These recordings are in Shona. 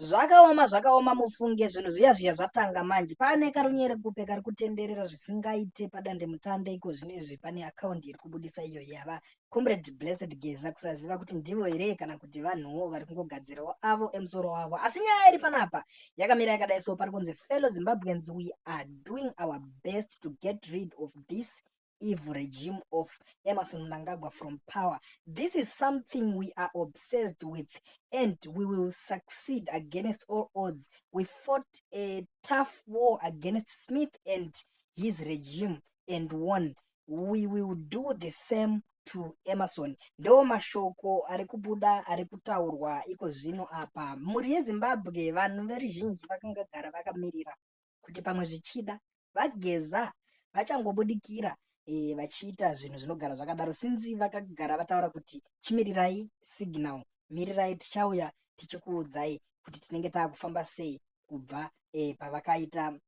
zvakaoma zvakaoma mufunge zvinhu zviya zviya zvatanga manje pane karunyere kupe kari kutenderera zvisingaite padande mutande iko zvino izvi pane akaundi iri kubudisa iyo yava comrade blessed geza kusaziva kuti ndivo here kana kuti vanhuwo vari kungogadzirawo avo emusoro wavo asi nyaya iri panapa yakamira yakadai so pari kunzi fellow zimbabweans we are doing our best to get rid of this evil regime of Emerson Mnangagwa from power. This is something we are obsessed with and we will succeed against all odds. We fought a tough war against Smith and his regime and won. We will do the same to Emerson. Ndo mashoko ari kubuda ari kutaurwa iko zvino apa. Mhuri yeZimbabwe vanhu veruzhinji vakangagara vakamirira. kuti pamwe zvichida vageza vachangobudikira e, vachiita zvinhu zvinogara zvakadaro sinzi vakagara vataura kuti chimirirai signal mirirai tichauya tichikuudzai kuti tinenge taakufamba sei kubva e, pavakaita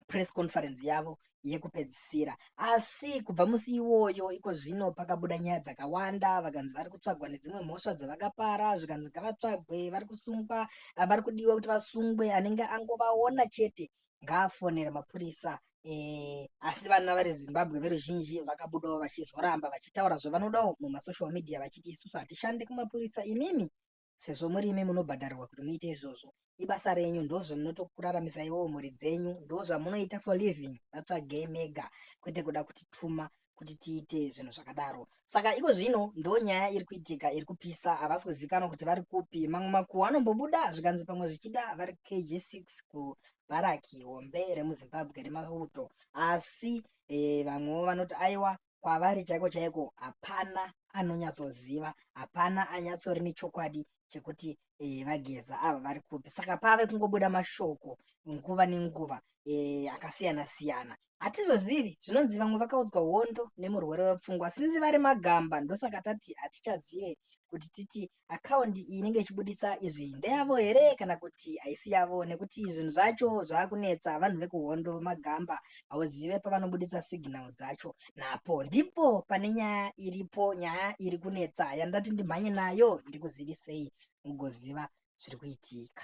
press conference yavo yekupedzisira asi kubva musi iwoyo iko zvino pakabuda nyaya dzakawanda vakanzi vari kutsvagwa nedzimwe mhosva dzavakapara zvikanzi ngavatsvagwe vari kusungwa vari kudiwa kuti vasungwe anenge angovaona chete ngaafonere mapurisa e, asi vana vari zimbabwe veruzhinji vakabudawo vachizoramba vachitaura zvavanodawo mumasocial media vachiti isusu hatishande kumapurisa imimi sezvo muri imi munobhadharirwa kuti muite izvozvo ibasa renyu ndozvinotokuraramise iwowo mhuri dzenyu ndozvamunoita for living vatsvagei mega kwete kuda kutituma kuti tiite zvinhu zvakadaro saka iko zvino ndo nyaya iri kuitika iri kupisa havasi kuzikanwa kuti vari kupi mamwe makuhwa anombobuda zvikanzi pamwe zvichida vari kg 6 kubharaki hombe remuzimbabwe remauto asi e, vamwewo vanoti aiwa kwavari chaiko chaiko hapana anonyatsoziva hapana anyatsori nechokwadi chekuti e, vageza ava vari kupi saka pave kungobuda mashoko nguva nenguva e, akasiyana siyana hatizozivi zvinonzi vamwe vakaudzwa hondo nemurwere wepfungwa sinzi vari magamba ndosaka tati hatichazive kuti titi account inenge ichibuditsa izvi ndeyavo here kana kuti haisi yavo nekuti zvinhu zvacho zvakunetsa vanhu vekuhondo magamba hauzive pavanobuditsa signal dzacho napo ndipo pane nyaya iripo nyaya iri kunetsa yandati ndimhanye nayo ndikuzivisei mugoziva zviri kuitika